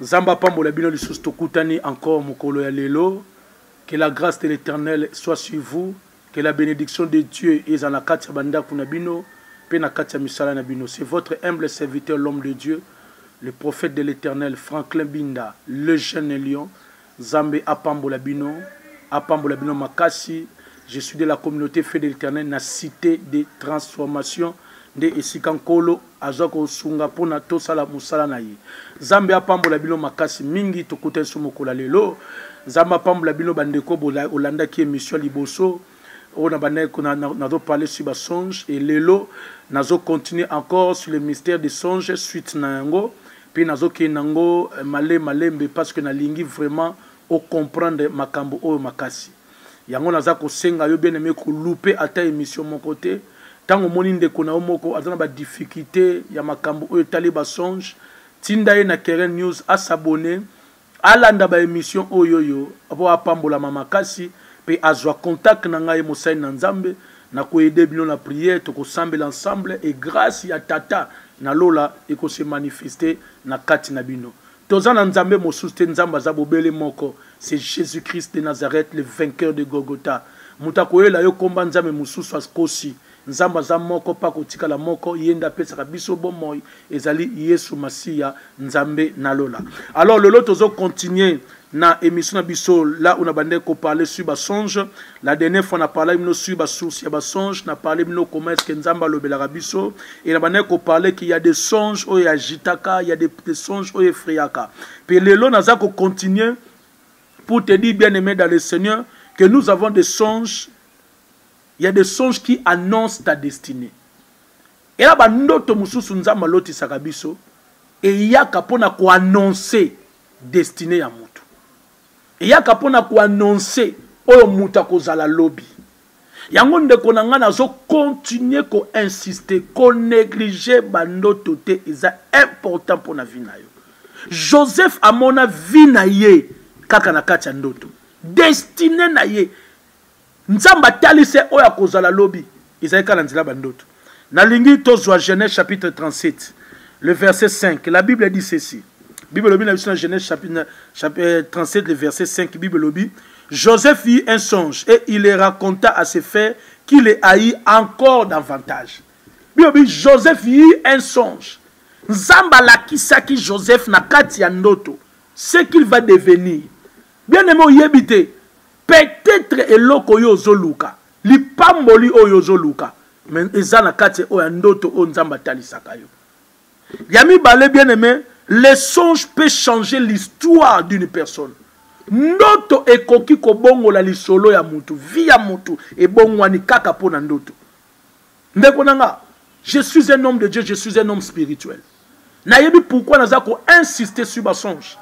Nzambe apambola bino lisusu tokutani encore mokolo ya lelo. Que la grâce de l'Éternel soit sur vous. Que la bénédiction de Dieu ezala na kati ya bandako na bino mpe na kati ya misala na bino. C'est votre humble serviteur l'homme de Dieu, le prophète de l'Éternel Franklin Binda, le jeune lion. Zambe apambola bino apambola bino makasi je suis de la communaute feu de l'eternel na cite de transformation nde esika nkolo aza kosunga mpona tosala mosala na ye zambe apambola bino makasi mingi tokuta nso mokola lelo zambe apambola bino bandeko olandaki emission liboso oyo na bandaki kuna nazo parle sur ba songe et lelo nazo continuer encore sur le mystère de songe suite na yango mpe nazokende yango eh, male malembe parce que nalingi vraiment ocomprendre makambo oyo makasi yango naza kosenga yo bien aime kolupe ata émission moko te ntango omoni ndeko na yo moko aza na badifficulté ya makambo oyo etali basonge tinda ye na keren news asabone Alanda ba emission oyoyo po apambolama makasi pe azua contact na ngai mosali na Nzambe na ko aider bino na prière toko sambela ensemble et grace ya tata na lola eko se manifester na kati na bino toza na Nzambe mosusu te Nzambe aza bobele moko c'est Jesus Christ de Nazareth le vainqueur de Golgotha moto akoyela yo komba Nzambe mosusu akosi Nzambe aza moko pe akotikala moko, ye nde apesaka biso bomoi, ezali Yesu Masiya, Nzambe na lola. Alors lelo tozo continuer na emission na biso là où na bandaki ko parler sur ba songe. La dernière fois na parlaki bino sur ba sources ya ba songe, na parler bino comment est-ce que Nzambe alobelaka biso et na bandaki ko parler qu'il y a des songes oyo agitaka, il y a des, des songes oyo effrayaka. Pe lelo naza ko continuer pour te dire bien aimé dans le Seigneur que nous avons des songes Il y a des songes qui annoncent ta destinée. Et là, bandoto mususu nzambe alotisaka biso eyaka mpo na koannonce destine ya motu eyaka mpo na koannonce oyo moto akozala lobi yango ndeko na ngai nazokontinue koinsiste konéglige bandoto te eza important mpo na vi na yo joseph amona vi na ye kaka na kati ya ndoto destine na ye Nzambe atali se oyo akozala lobi. Ezali kaka na nzela ba ndoto. Nalingi tozwa Genèse chapitre 37 le verset 5. La Bible dit ceci. Bible elobi na biso na Genèse chapitre 37 le verset 5. Bible elobi Joseph eut un songe et il le raconta à ses frères qui le haït encore davantage. Bible elobi Joseph eut un songe. Nzambe alakisaki Joseph na kati ya ndoto ce qu'il va devenir. Bien aimé oyebi te Peut-etre eloko oyo ozoluka, lipamboli oyo ozoluka, mais eza na kati oyo ya ndoto oyo Nzambe atalisaka yo. Ya mibale bien aimé, le songe peut changer l'histoire d'une personne. Ndoto ekoki kobongola lisolo ya mutu, vie ya mutu ebongwani kaka mpo na ndoto. ndeko na nga je suis un homme de dieu je suis un homme spirituel nayebi pourquoi naza ko insister sur basonge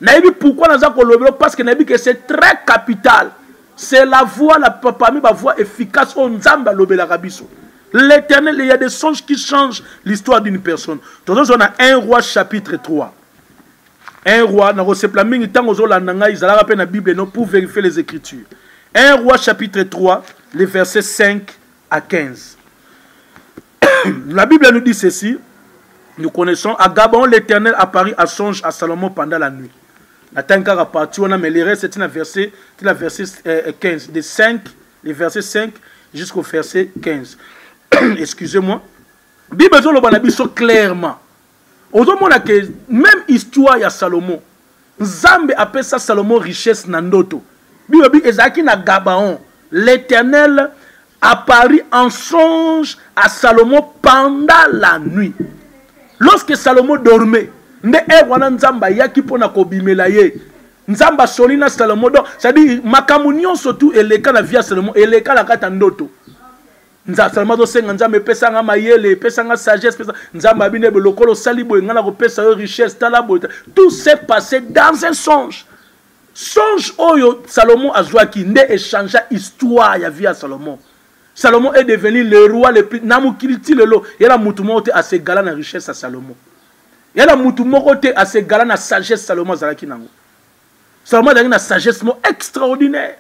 nayebi pourquoi naza kolobelo parce que nayebi que c'est très capital c'est la voix la, parmi bavoix efficace oyo nzambe alobelaka biso l'éternel il y a des songes qui changent l'histoire d'une personne tozozwa na 1 roi chapitre 3 un roi nakosepela mingi ntango ozolanda ngai zalaka mpe na bible no pour vérifier les écritures un roi chapitre 3 le verset 5 à 15 la bible nous dit ceci nous connaissons à gabon l'éternel apparut à songe à salomon pendant la nuit natangi kaka parti wana mais le reste tina verset tina verset 15 euh, euh, de 5 le verset 5 jusqu'au verset 15 excusez-moi bible ezoloba na biso clairement ozomona ke meme histoire ya salomo nzambe apesa salomo richesse na ndoto bilobi ezalaki na gabaon l'éternel apparu en songe à salomo pendant la nuit lorsque salomo dormait nde ere wana nzambe ayaki mpo na kobimela ye nzambe asoli na salomo donc cestadire makambo nyonso tu eleka na vie ya salomo eleka na kati ya ndoto nzasama azosenga nzambe epesa nga mayele epesa nga sagesse pesa nzambe abi nde lokola osali boye ngai nakopesa yo richesse tala boye tout s'est passé dans un songe songe oyo salomon azwaki nde echangea histoire ya vie ya salomon salomon est devenu le roi le plus na mokili ti lelo ye na motu moko te asegala na richesse ya salomon ye na motu moko te asegala na sagesse salomon azalaki nango salomon azalaki na sagesse moko extraordinaire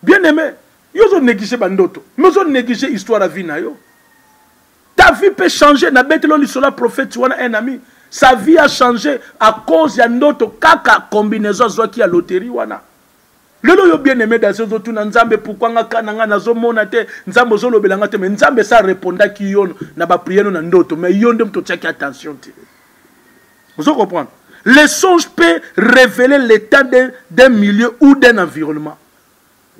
bien aime yo ozo néglige bandoto mais ozo néglige histoire ya vie na yo ta vie peut changer na betelo lisolo ya prophète wana un ami sa vie a changé à cause ya ndoto kaka combinaison azwaki ya loterie wana lelo yo bien aimé dase ozotuna nzambe pourkui nga ka na nga nazomona te nzambe ozolobela nga te me nzambe sa repondaki yo na bapriere na ndoto me yo nde moto otiaki attention te ozo comprendre le songe peut révéler l'état d'un milieu ou d'un environnement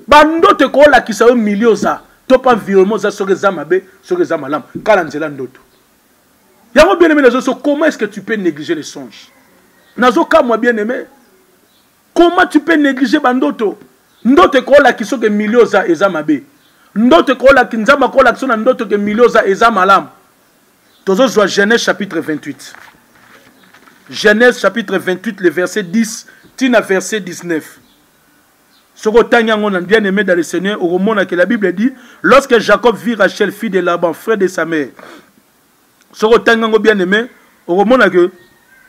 bandoto ekoolakisa yo milieu oza to mpe environnement oza soki eza mabe soki eza malamu kaka na nzela ndoto yango bien aimé nazo so comment est ce que tu peux négliger le songe nazo kamwa bien aimé comment tu peux négliger bandoto ndoto ekoolakisa oke milieu oza eza mabe ndoto ekoolaki nzambe akoolakisa na ndoto ke milieu oza eza malamu tozozwa genèse chapitre 28 genèse chapitre 28 le verset 10 ti na verset 19 soki otangi yango na bien aimé dans le seigneur okomona que la bible dit lorsque jacob vit rachel fille de laban frère de sa mère soki otangi yango bien aimé okomona que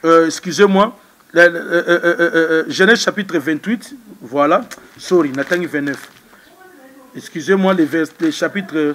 euh, excusez moi euh, euh, euh, euh, euh, genèse chapitre 28 voilà sorry natangi 29 excusez moi le, vers, le chapitre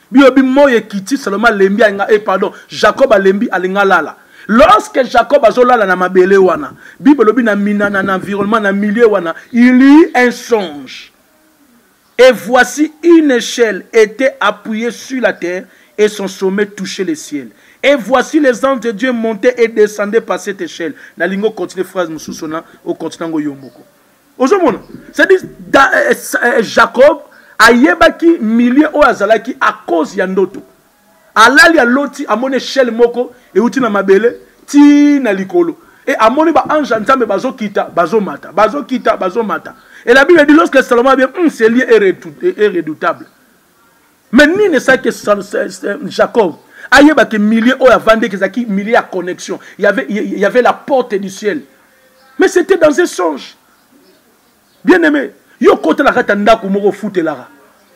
bilobi moi ekiti saloma alembi ainga e eh, pardon jacob alembi alinga lala lorsque jacob azolala na mabele wana bible elobi na mina na, na environnement na milieu wana il eut un songe et voici une échelle était appuyée sur la terre et son sommet touchait le ciel et voici les anges de dieu montaient et descendaient par cette échelle nalingi ocontinue phrase mosusu na ocontinue yango yo moko ozomona c'est-à-dire eh, eh, eh, jacob ayebaki milieu oyo azalaki à cause ya ndoto alali aloti amoni echelle moko euti na mabele ti na likolo e amoni baange ya nzambe bazokita bazomata bazokita bazomata et la bible dit lorsque salomon abie mm, ce lieu est redoutable me nini esalaki jacob ayeba ke milieu oyo avandeki ezalaki milieu ya connexion y avait la porte du ciel mais c'était dans un songe bien aimé yo kotala kati ya ndako moko ofutelaka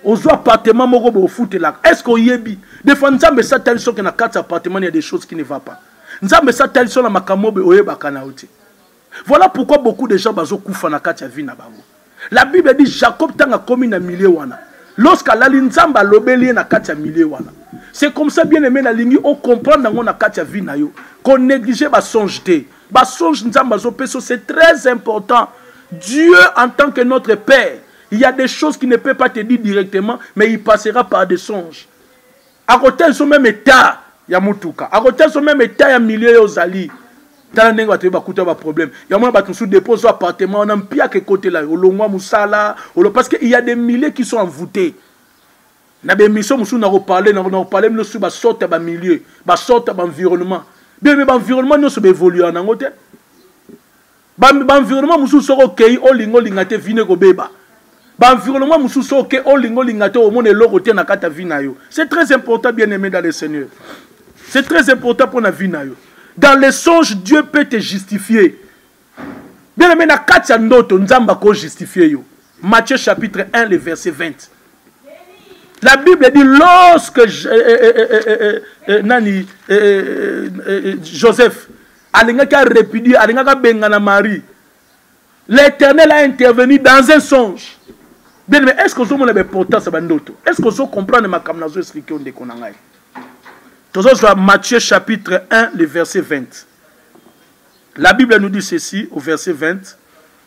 ozwa appartement moko boye ofutelaka est ce que oyebi des fois nzambe esatali soki na kati ya appartement ya des choses qui ne va pas nzambe esatali so na makambo oyo oyebaka na yo te Voilà pourquoi beaucoup de gens bazo kufa na kati ya vie na bango. La Bible dit Jacob tanga komi na milieu wana. Lorsqu'à lali nzambe alobeli ye na kati ya milieu wana. C'est comme ça bien aimé na lingi o comprendre yango na kati ya vie na yo. Ko négliger ba songe te. Ba songe nzambe azo peso c'est très important. Dieu en tant que notre père, il y a des choses qui ne peut pas te dire directement mais il passera par des songes. akotia biso meme etat ya motuka akotia biso meme etat ya milieu yo ozali tala ndenge bato ye bakuta baproblème yango wana bato mosusu depo ozwa appartement wana mpiaka ekotela yo olongwa mosala olo parce que il y a des milliers qui sont envoûtés na baémission mosusu nakoparle nakoparle bino sur basorte ya bamilieu basorte ya baenvironnement bino mpe baenvironnement nyonso baévoluaka nango te ba, ba environnement mosusu soki okei olinga olinga te vino ekobeba ba environnement mosusu soki okei olinga olinga te omona eloko te na kati ya vi na yo c'est très important bien aimé dans le seigneur c'est très important mpo na vi na yo dans les songes dieu peut te justifier bien aimé na kati ya ndoto nzambe akojustifie yo matthieu chapitre 1 le verset 20 La Bible dit lorsque je, euh, euh, euh, nani, Joseph alingaki a repudie alingaki abengana marie l'éternel a intervenu dans un songe bien mais est ce que ozomona baimportance ya bandoto est ce que ozocomprendre makambo nazo explike yo ndeko na ngai tozozwa matthieu chapitre 1 le verset 20 la bible nous dit ceci au verset 20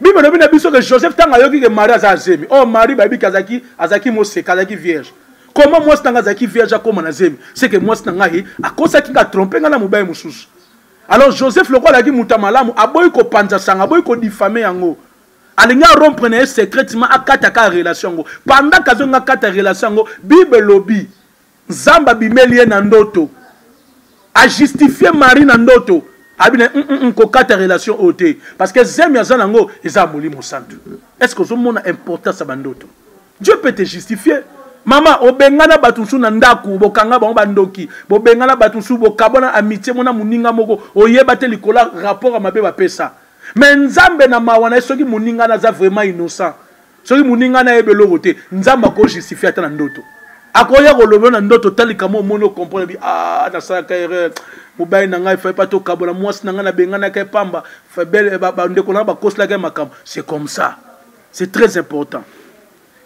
bible elobi na biso ke joseph ntango ayoki ke marie aza azemi or oh, marie bayebi ke azalaki azalaki moseka azalaki vierge koma mwasi na ngai azalaki vierge akóma na zemi seke mwasi na ngai akosaki ngai atrompe ngai na mobali mosusu alors joseph lokola alaki moto ya malamu aboyi kopanza sango aboyi kodifame yango alingi arompre na ye secretement akataka relation yango pendant kazolinga akata relation yango bible elobi Nzambe abimeli ye na ndoto. A justifier Marie na ndoto. Abi na mm, mm, kokata relation oyo te parce que zemi aza nango eza ya molimo santu. Est-ce que ozomona importance ya bandoto? Dieu peut te justifier. mama obengana bato mosusu na ndako bokanga bango bandoki bobengana bato mosusu bokabwana amitie mona moninga moko oyeba te likolo ya rapport ya mabe bapesa me nzambe na mawa na ye soki moninga na aza vraiment innocent soki moninga na yebi eloko te nzambe ako justifie ata na ndoto akoya kolobela na ndoto talika mo omoni okomprendre bi ah nasalaka erreur mobali na ngai fai pa tokabola mwasi na ngai nabenganaka ye pamba eh, bandeko na ngai bakoselaka ye makambo c'est comme ça c'est très important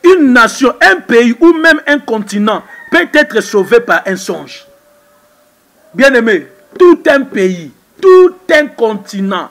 une nation un pays ou même un continent peut être sauvé par un songe bien aimé tout un pays tout un continent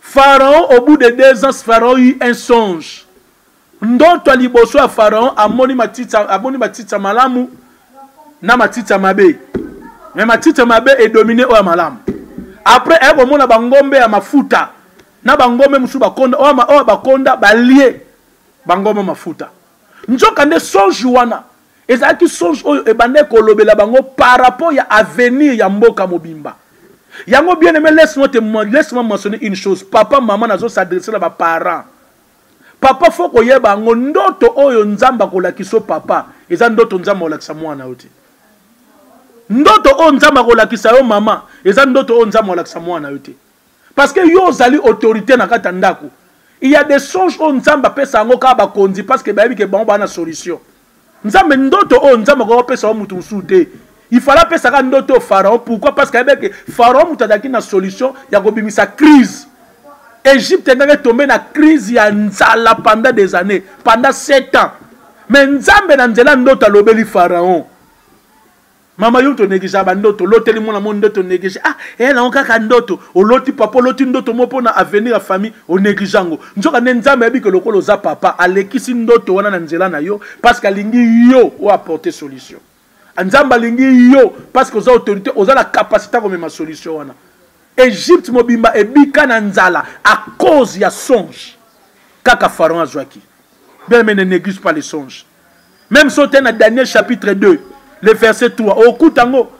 Pharaon au bout de deux ans Pharaon eut un songe ndoto ya liboso ya Pharaon amoni matiti amoni matiti ya malamu na matiti ya mabe mais matiti ya mabe edomine oyo ya malamu après aye komona bangombe ya mafuta na bangombe mosusu bakonda oyo bakonda balie bangombe mafuta nzoka nde songe wana ezalaki songe oyo ebandaki kolobela bango par rapport ya avenir ya mboka mobimba yango bien aime laisse-moi te laisse-moi mentionner une chose papa mama nazo s'adresse na baparent papa fo koyeba yango ndoto oyo nzambe akolakisa yo papa eza ndoto nzambe akolakisa mwana yo te ndoto oyo nzambe akolakisa yo mama eza ndoto oyo nzambe akolakisa mwana yo te Parce que yo ozali autorité na kati ya ndako. Il y a des songes oyo Nzambe apesa yango kaka bakonzi parce que bayebi ke bango bana solution. Nzambe ndoto oyo Nzambe akoki kopesa yo moto mosusu te. Il fallait apesa kaka ndoto oyo Pharaon. Pourquoi? Parce que ayebi ke Pharaon moto azalaki na solution ya kobimisa crise. Egypte engaki etombe na crise ya nzala pendant des années, pendant 7 ans. Mais Nzambe na nzela ndoto alobeli Pharaon. mama yo tonegligea bandoto oloteli mwana mo ndoto oneglige ah eya nango kaka ndoto oloti papa oloti ndoto mo mpo na avenir ya famille oneglige yango nzoka nde nzambe ayebi ke lokola oza papa alekisi ndoto wana na nzela na yo parce que alingi yo oyo apporte solution nzambe alingi yo parce que oza autorité oza na capacité ya komema solution wana egypte mobimba ebika na nzala à cause ya songe kaka pharaon azwaki bien mais ne néglige pas les songes meme so te na daniel chapitre 2 le verset 3 okuta yango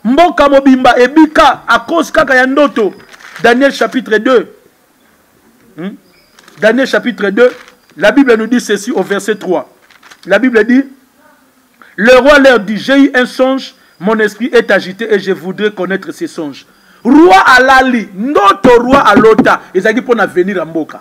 mboka mobimba ebika a cause kaka ya ndoto daniel chapitre 2 hmm? daniel chapitre 2 la bible nous dit ceci au verset 3 la bible dit le roi leur dit j'ai eu un songe mon esprit est agité et je voudrais connaître ces songes roi alali ndoto roi alota ezalaki mpo na venir ya mboka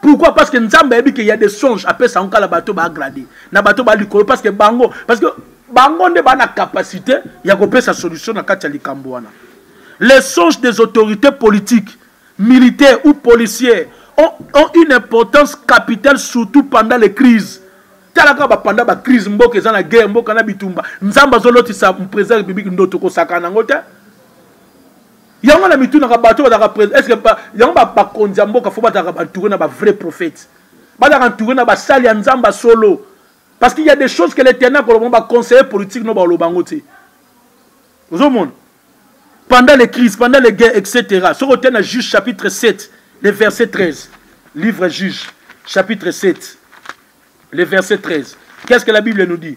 pourquoi parce que nzambe ayebi ke ya des songe apesa yango kala bato baagrade na bato ba likolo parce que bango parce que bango nde baa na capacité ya kopesa solution na kati ya likambo wana les songes des autorités politiques militaires ou policières ont, ont une importance capitale surtout pendant les crises tala kaka bapanda bacrise mboka eza na guerre mboka na bitumba nzambe azolotisa président ya république ndoto kosakana yango te yango na mitunaka bato bazalaka prese eske yango bakonzi ya mboka fo bazalaka bantoure na bavrai prophète bazalaka ntoure na basali ya nzambe ya solo parce qu'il y a des choses que l'éternel akoloba ngo baconseiller politique no bakoloba yango te ozomona pendant les crises pendant les guerres etc soki ote na juge chapitre 7 le verset 13 livre juge chapitre 7 le verset 13 qu'est ce que la bible nous dit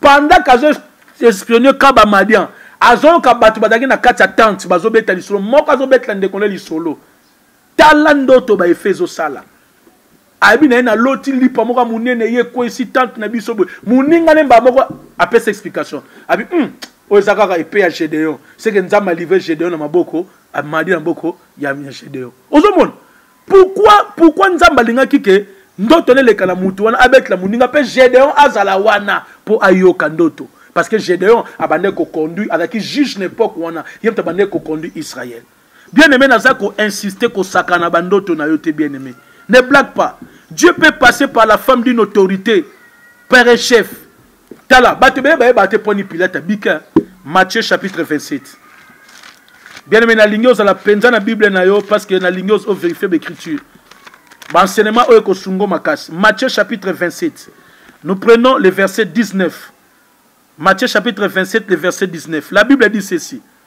pendant qu'azo espionner kaba madian azoyoka bato bazalaki na kati ya tente bazobeta lisolo moko azobetela ndeko na lisolo tala ndoto baefe ezosala ayebi na ye naloti lipa moko ya monene ye ekwesi tante na biso boye moninga ne mbaa moko apesa explication abi hmm, oyo eza kaka epe ya gedeon seke nzambe alivre gedeon na maboko amadi na maboko ya gedeon ozomona pourquoi pourquoi nzambe alingaki ke ndoto neleka na mutu wana abetela moninga mpe gedeon azala wana mpo ayoka ndoto parce que gedeon abandaki koconduire azalaki juge na epoke wana ye moto abandaki koconduire israel bien aimé naza koinsiste kosakana bandoto na yo te bien aimé ne blague pas dieu peut passer par la femme d'une autorité père et chef tala bato ebele bayebaka te mponi pilate abika matthieu chapitre 27 bien aime nalingi ozala mpenza na bible na yo parce que nalingi overifie baécriture baenseignement oyo ekosungo makasi matthieu chapitre 27 nous prenons le verset 19 matthieu chapitre 27 le verset 19 la bible dit ceci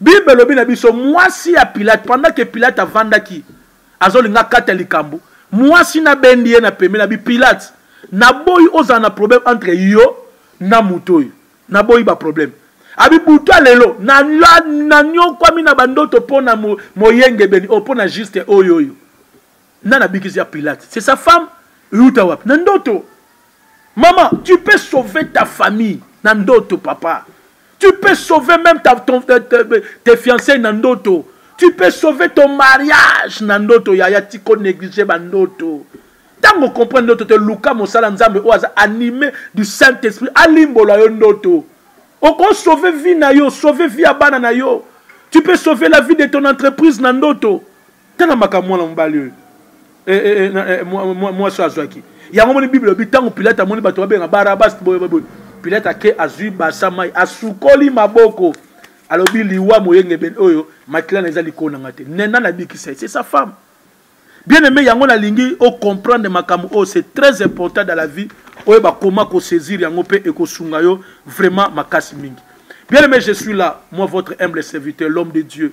Bible elobi na biso mwasi ya Pilate pendant que Pilate avandaki azolinga kata likambo mwasi na bendi ye na pembe na bi Pilate na boyi ozala na problème entre yo na moto oyo na boyi ba problème abi buta lelo na na nyokwami na bandoto mpo na moyengebeni o oh, mpo na juste oyo oyo nani abikisi ya pilate c'est sa femme euta wapi na ndoto mama tu peux sauver ta famille na ndoto papa tu peux sauver même ta, ton, te, te, tes fiancés na ndoto tu peux sauver ton mariage na ndoto yaya tiko néglige bandoto ntango okomprendre ndoto te luka mosala nzambe oyo aza anime du saint esprit alimbola yo ndoto okosauve vie na yo sauve vie ya bana na yo tu peux sauver la vie de ton entreprise na ndoto tala makambo mwana mobali oyo eh, eh, eh, mwasi oyo azwaki yango moni bible elobi ntango pilate amoni bato babenga barabas boyeboye pilate ake azwi basa mai asukoli maboko alobi liwa moyengebene oyo makila na eza likolo na ngai te nena nabikisa ye c'est sa femme bien aimé yango nalingi ocomprendre makambo oyo c'est très important dans la vie oyo bakoma kosaisir yango mpe ekosunga yo vraiment makasi mingi bien aimé je suis là moi votre humble serviteur l'homme de dieu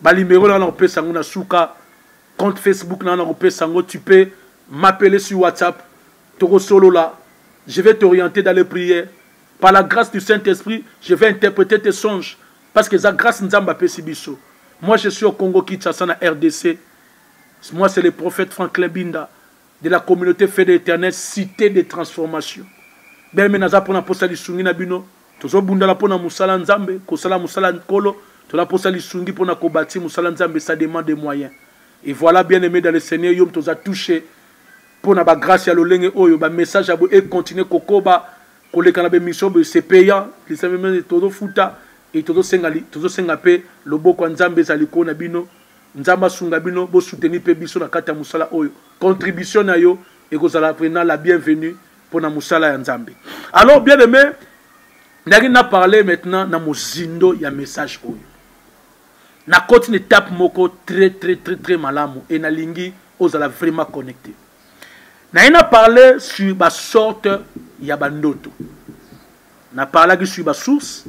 ba numero na nakopesa yango na suka compte facebook na nakopesa yango tu peux m'appeler sur whatsapp tokosolola je vais t'orienter dans les prières par la grâce du saint esprit je vais interpréter tes songes parce que eza grâce nzambe apesi biso moi je suis au congo kinshasa na rdc moi c'est le prophète franklin binda de la communauté fait de l'éternel cité de transformation beme naza mpona mposa lisungi na bino tozobundala mpo na mosala nzambe kosala mosala nkolo tola posa lisungi mpo na kobati mosala nzambe ça demande des moyens et voilà bien aimé dans le seigneur yo moto oza touche mpo na bagrâce ya lolenge oyo bamessage ya boye econtinue kokoba koleka na bemission boye se payant lisameme tozofuta e tozosenga tozosenga mpe loboko ya nzambe ezala likolo na bino nzambe asunga bino bosuteni mpe biso na kati ya mosala oyo contribution na yo ekozala vraimen la bienvenue pona musala ya nzambe alors bien aimé ndaki na parler maintenant na mozindo ya message oyo nakoti na étape moko très très très très malamu e nalingi ozala vraiment connecté naye na parle sur basorte ya bandoto na parlaki sur basource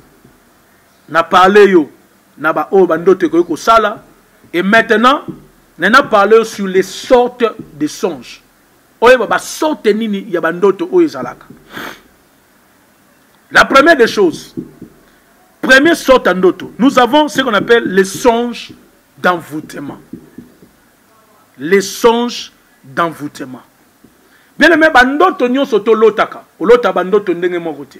na parle yo na baoyo bandoto ekoki kosala et maintenant naye na parle yo sur les sortes de songe oyeba ba sorte nini ya ba ndoto oyo ezalaka la première des choses premier sorte ya ndoto nous avons ce qu'on appelle les songes d'envoûtement les songes d'envoûtement bien aimé bandoto nyonso tolotaka olota bandoto ndenge moko te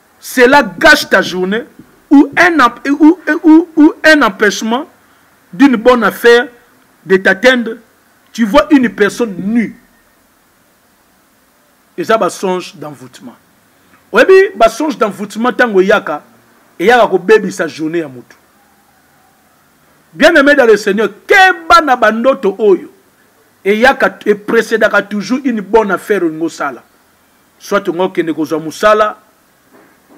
Cela gâche ta journee ou un, ou, ou, ou un empêchement d'une bonne affaire de t'atteindre. Tu vois une personne nue. eza basonge d'envoûtement oyebi basonge d'envoûtement ntango eyaka eyaka kobebisa journée ya motu bien aimé dans le seigneur keba na bandoto oyo eyaka eprecedaka toujours une bonne affaire olingi osala soit onga okende kozwa mosala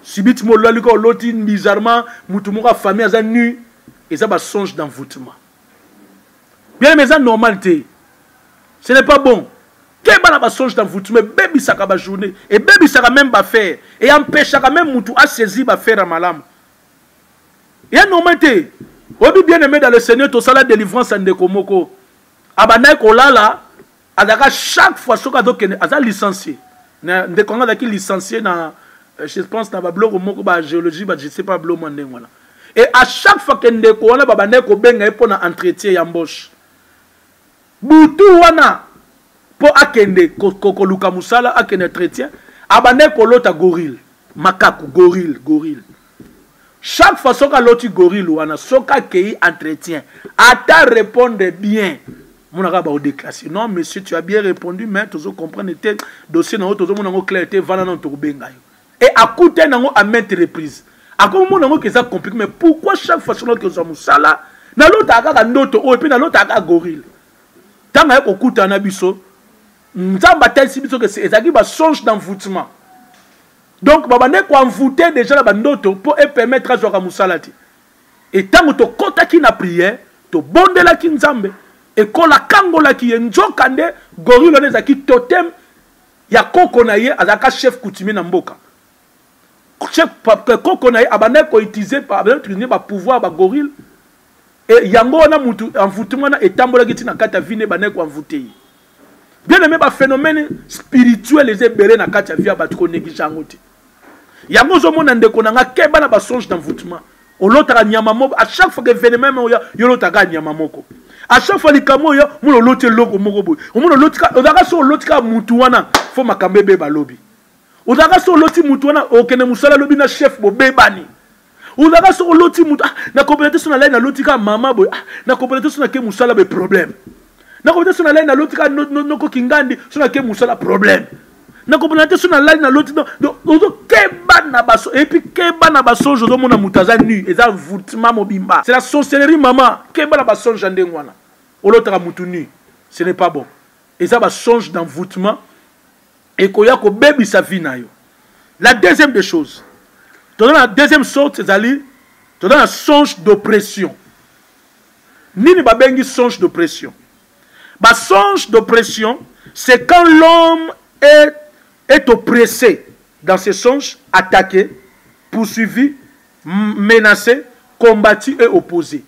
sibiti molali ka oloti bizarrement motu moko ya famille aza nu eza basonge d'envoûtement bien mais eza normal te ce n'est pas bon keba na basonge d'envoûtement ebebisaka bajournée ebebisaka même bafere e empeshaka même motu asaisi bafere ya malamu eza normal te oyebi bien aime dans le seigneur tosala délivrance ya ndeko moko abandaki kolala azalaka chaque fois soki azokende aza licencie ndeko yango azalaki licencie na euh, je pense na babiloko moko bagéologie ba je sais pas biloko mwa ndenge wana e à chaque fois ke ndeko wana babandaki kobenga ye mpo na entretien ya mboshe butu wana mpo akende koluka mosala akende entretien abandaki kolota gorille makaku gorille gorille chaque fois soki aloti gorille wana soki akei entretien ata répondre bien mona kaka baodeclasse non monsieur tu as bien répondu mais tozo comprendre te dossier na yo tozomona yango clair te vana nano tokobenga yo e akutani yango à maintes reprise akomona yango keza compliqué mais pourquoi chaque fois soki nake ozwa mosala nalotaka kaka ndoto oyo mpe nalotaka kaka gorille ntango aye kokutana na biso nzambe atalisi biso ke ezalaki basonge d'envoutement donc babandaki koenvoute déjà na bandoto mpo epermettre azwaka mosala te e ntango tokotaki na priere tobondelaki nzambe ekola akangolaki ye nzoka nde gorille wana ezalaki totem ya koko na ye azalaka chef coutumier na mboka chef koko na ye abandaki koutilize abandaki bapouvoir bagorille e yango wana motu envoutema wana etambolaki ntina kati ya vine ebandaki koenvoute ye bien aime ba phénomène spirituel eza ebele na kati ya vie ya bato koneglige yango te yango ozomona ndeko na nga keba na basonge d'envoûtement olotaka nyama moko à chaque fois que événement moko oya yo olotaka nyama moko à chaque fois likambo oyo omona oloti eloko moko boye omona ozalaka so oloti kaka mutu wana fo makambo ebeba lobi ozalaka so oloti mutu wana okende mosala lobi na chef bobebani olaka soki oloti moto ah, nakopela te so na lai naloti kaka mama boye ah, nakopela te so nake mosala boye problème nakopela te so na lai naloti kaka noko kingandi so nake mosala problème nakopela te so na lai naloti ozokeba na baso epuis keba na basonge ozomona moto aza nu eza envourtement mobimba c'est la sorcellerie mama keba na basonge ya ndenge wana olotaka moto nu ce n'est pas bon eza basonge d'envourtement ekoya kobebisa vie na yo la deuxième des choses toza na deuxième sorte ezali toza na songe d'oppression nini babengi songe d'oppression basonge d'oppression c'est quand l'homme est, est oppressé dans ses songes attaqué poursuivi menacé combattu et opposé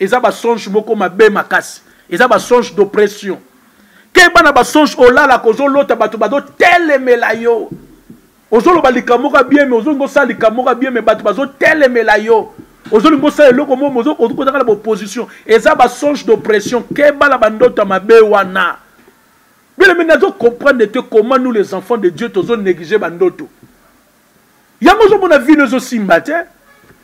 eza ba songe moko mabe makasi eza ba songe d'oppression keba na ba songe olalaka ozolota bato bazotelemela yo ozoloba likambo moko bien me ozolinga osala likambo moko bien me bato bazotelemela yo ozolinga osala eloko mo ozokozaka na baopposition eza ba songe d'oppression keba na bandoto ya mabe wana bile me nazo comprendre te comment nous les enfants de dieu tozo néglige bandoto yango ozomona vino ezosimba te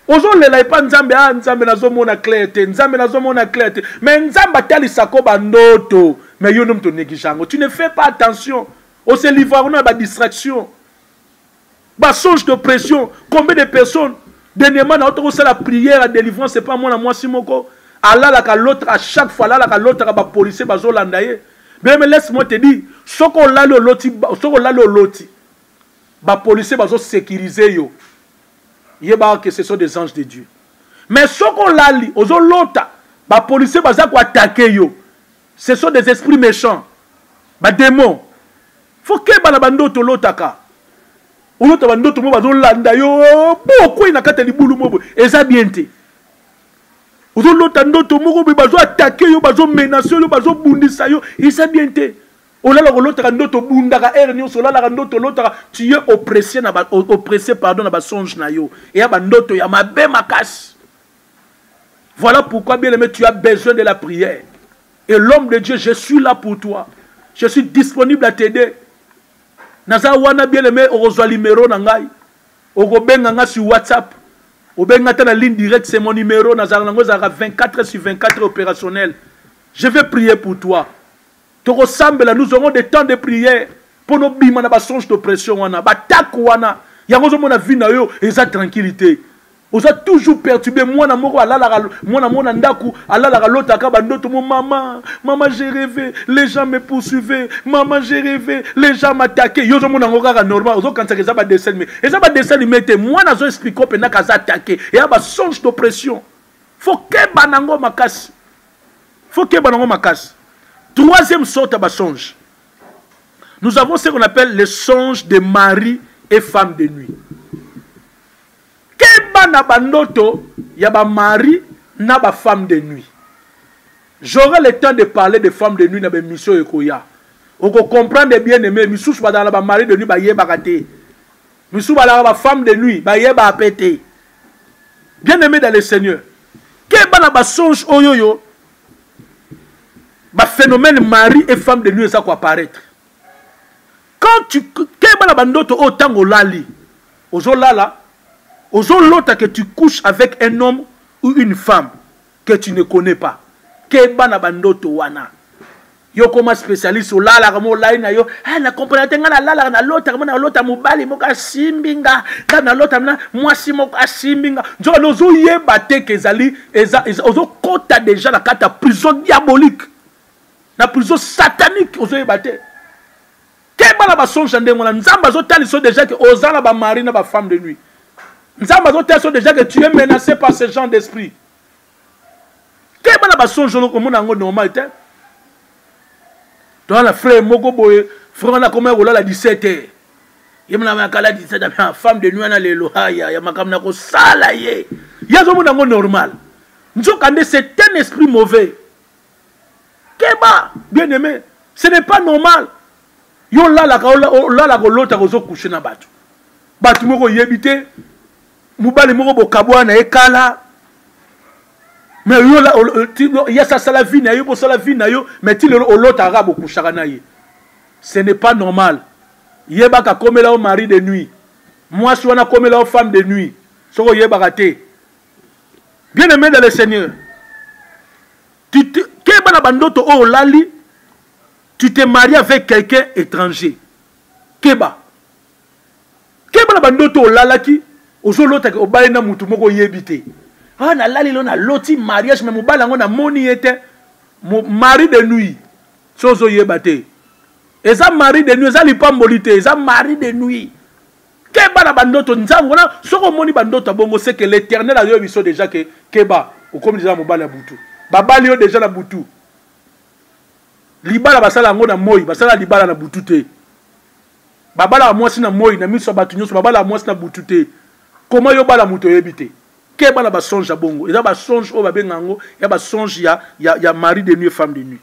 ozolela epa nzambe a ah, nzambe nazomona clair te nzambe nazomona clair te me nzambe atalisako bandoto me yo nde moto oneglige yango tu ne fais pas attention ose livre kuna ya badistraction basonge de pression combien de personnes dernièrement na ota kosala prière ya délivrance epa mwana mwasi moko alalaka l'autre à chaque fois alalaka l'autre aka bapolicier bazolanda ye beme laisse moi te dire soki olali oloti soki olali oloti ba policiers bazo securiser yo yeba que ce sont des anges de Dieu mais soki olali ozo lota ba policiers baza ko attaquer yo ce sont des esprits méchants ba démons faut keba na bandoto olotaka olota bandoto mo bazolanda yo bo okwei na kati ya libulu mo boye eza bien te ozolota ndoto moko boye bazo atake yo bazomenase yo bazobundisa yo eza bien te olalaka olotaka ndoto obundaka heure nyonso olalaka ndoto olotaka tu es oppressé na ba, oppressé pardon na basonge na yo eya bandoto ya mabe makasi voilà pourquoi bien aimé tu as besoin de la prière et l'homme de dieu je suis là pour toi je suis disponible à t'aider naza wana bien aimé okozwa limero na ngai okobenga ngai sur whatsapp obenga ata na ligne directe c'est mon numéro nazalaka nango ezalaka 24 sur 24 opérationnel je vais prier pour toi tokosambela nous aurons des temps de prière mpo nobima na basonge d'oppression wana batako wana yango ozomona vie na yo eza tranquille te oza toujours perturbe mwana moko alalaka mwana moko na ndako alalaka lotaka bandoto mo mama mama je reve les gens me poursuive mama je reve les gens m'attaque yo ozomona yango kaka normal ozokanisaka eza badessin lime eza badessin lime te mwana azo explike opendaka aza atake eya basonge d'oppression fo keba nango makasi faut keba nango makasi troisième sorte ya basonge nous avons ce qu'on appelle les songes de mari et femme de nuit keba na bandoto ya bamari na bafemme de nuit j'aurai le temps de parler de femme de nuit na baémission ekoya okocomprendre bien aimé misusu bazala na bamari de nuit bayebaka te misusu balaka bafemme de nuit bayebaka mpe te bien aimé dans le seigneur keba na basonge oyo oyo baphénomène mari et femme de nuit eza koapparaître quand tu keba na bandoto oyo ntango olali ozolala ozolota que tu couches avec un homme ou une femme que tu ne connais pas keba na bandoto wana yo koma specialiste olalaka mo olali na yo hey, eh, na comprena te ngai nalalaka nalotaka mo nalota mobali moko asimbi nga nga nalota na mwasi moko asimbi nga nzokana ozoyeba te ke ezali ozokota deja na kati ya prison diabolique na prison satanique ozoyeba te keba na basonge ya ndenge wana nzambe azotalisa deja ke oza na bamari na bafemme de nuit nzambe azotalisa deja ke tu es menacé par ce genre d'esprit keba na basonjolo komona yango normal te toza na frère moko boye frère wana akomaki kolala 17 heure ye mnamakala 17 heure femme de nuit wana lelo aya ya makambo na kosala ye ye azomona yango normal nzokande c'est un esprit mauvais keba bien aimé ce n'est pas normal yo olalaka olalaka olotaka ozokouche na bato bato moko oyebi te mobali moko bokabwana na ye kala mais yo yasi asala vie na yo bosala vie na yo mais ti lelo olotaka kaka bokushaka na ye ce n'est pas normal yebaka akomela yo mari de nuit mwasi wana akomela yo femme de nuit soki oyebaka te bien aimé dans le seigneur keba na bandoto oyo olali tu te marie avec quelqu'un étranger keba keba na bandoto olalaki ozolotaki obali na motu moko oyebi te ah, nalali lo naloti mariage me mobali yango namoni ye te mari de nuit so ozoyeba te eza mari de nuit eza lipamboli te eza mari de nuit keba na bandoto nzambe wana soki omoni bandoto ya bongo seke l'éternel ayoye biso deja ke keba okomi deja na mobali ya butu babali yo deja na butu libala basala yango na moi basala libala na butu te babalaka mwasi na moi na miso ya bato nyonso babalaka mwasi na butu te koma yo bala moto oyebi te keba na basonge ya bongo eza basonge oyo babenga yango ya basonge ya, ya, ya mari de nuit femme de nuit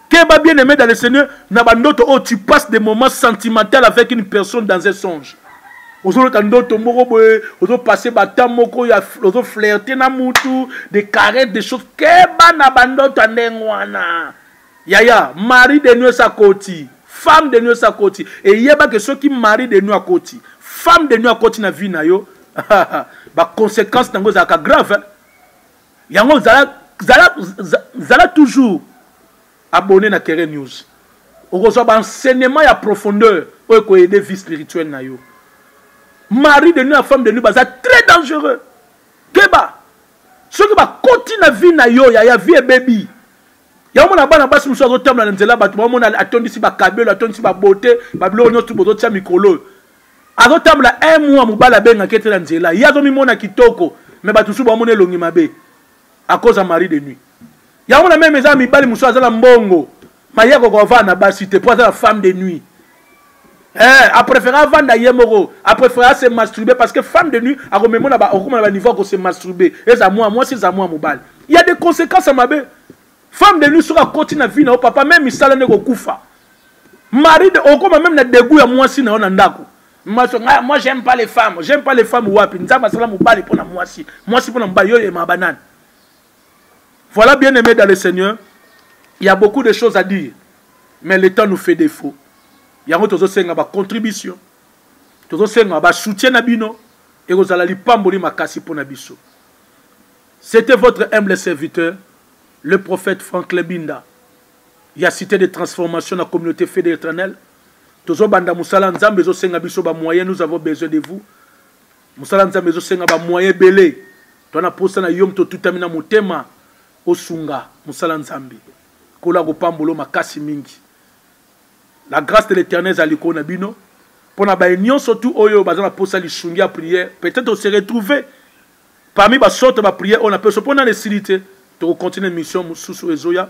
keba bien aimé dans le seigneur na bandoto oyo oh, tu passes des moments sentimental avec une personne dans un songe ozolota ndoto moko boye ozopasse bata moko ya ozoflirte na mutu de carette de chose keba na bandoto ya ndenge wana Yaya, mari de nuit sa koti. Femme de nuit sa koti. Et yeba que soki mari de nuit a koti. Femme de nuit a koti na vie na yo. ba conséquences na ngo za ka grave. Hein? Yango zala, zala, zala toujours abonné na Kere News. okozwa baenseignement ya profondeur oyo ekoyede vie spirituelle na yo mari de nu ya femme de nu baza très dangereux keba soki bakoti na vie na yo yaya vie ebebi yango mona bana basi mosusu azotambola na nzela bato bamona atondisi bakabelo atondisi babote babiloko nyonso bozotya mikolo oyo azotambola un mois mobali abengaki ete na nzela ye azomimona kitoko me bato mosusu bamona elongi mabe akoza marie de nuit yango na meme eza mibali mosusu aza na mbongo maye akoka ovanda na basi te mpo aza na femme de nuit Eh, a préféré avanda ye moko a préféré ase masturbe parce que femme de nuit akomema na okoma na baniveau akose masturbe eza mwa mwasi eza mwa mobali ya des conséquences ya mabe femme de nuit soki akoti na vie na yo papa meme misala nde kokufa mari de okoma meme na degout ya mwasi na yo na ndako mwasi nga moi j'aime pas les femmes j'aime pas les femmes wapi nzambe asala mobali mpo na mwasi mwasi mpo na mobali yo oyemaka banani Voilà bien aimé dans le Seigneur, il y a beaucoup de choses à dire, mais le temps nous fait défaut. Yango tozo senga ba contribution, tozo senga ba soutien na bino et kozala lipamboli makasi pona biso. C'était votre humble serviteur, le prophète Franck Lebinda. Il y a cité de transformation dans la communauté fédérale éternelle. Tozo banda musala nzambe zo senga biso ba moyens nous avons besoin de vous. mosala nzambe ezosenga bamoye ebele to na mposa na yo moto otutami na motema osunga mosala nzambe nkolo akopambolo makasi mingi la grâce de l'éternel ezala likolo na bino mpo na baye nyonso tu oyo baza na mposa lisungi ya prière peut-être ose retrouve parmi basorte baprière oyo na peso mpo nani esili te tokocontinue mission mosusu ezoya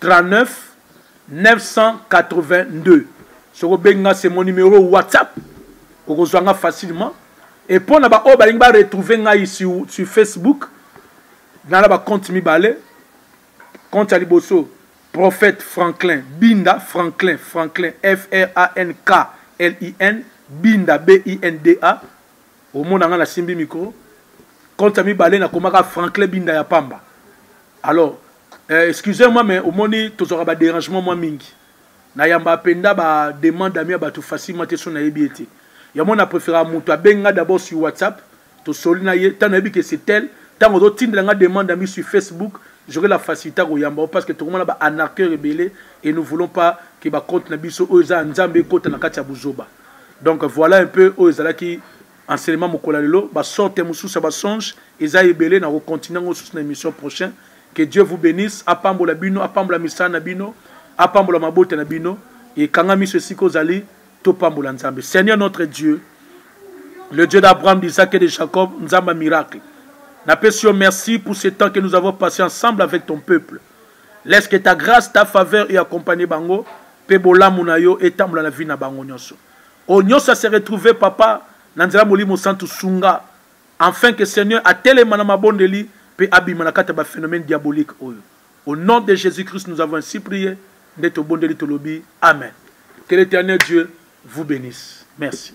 39 982 soki obengi nga c'est mon numéro whatsapp okozwa nga facilement et mpo na baoyo balingi baretrouve ngai sur, sur facebook nala bacompte mibale compte ya liboso prophète franklin binda franklin franklin frank lin binda binda omona ngai nasimbi mikro compte ya mibale nakomaka franklin binda ya pamba alors Euh, excusez moi mais omoni tozwaka badérangement mwa mingi nayamba mpenza bademande ami ya bato facilement te so nayebi ye te yango na préféraka moto abengi nga d'abord sur whatsapp tosoli na ye ntango nayebi ke c'est tel ntango ozotindela nga demande ami sur facebook joke la facilité koyamba parce que tokomona ba anarqueur ebele et nous voulons pas ke bacompte na biso oyo eza ya nzambe ekota na kati ya buzoba donc voilà un peu oyo ezalaki Enseignement mokolo ya lelo ba sorte mosusu ya ba songe eza ebele na ko continuer ngo susu na emission prochain que Dieu vous benisse apambola bino apambola misala na bino apambola mabota na bino et kanga miso esika ozali topambola Nzambe Seigneur notre Dieu le Dieu d'Abraham, d'Isaac et de Jacob, Nzamba miracle. Napesio, merci pour ce temps que nous avons passé ensemble avec ton peuple. Laisse que ta grâce, ta faveur et accompagner bango, pe bolamu na yo et tambola la vie na bango nyonso. oyo nyonso ya se retrouver papa na nzela molimo santu sunga enfin que seigneur atelema na mabondeli pe abima na kati ya ba phénomène diabolique oyo au nom de jésus christ nous avons ainsi prié nde tobondeli tolobi amen que l'éternel dieu vous bénisse merci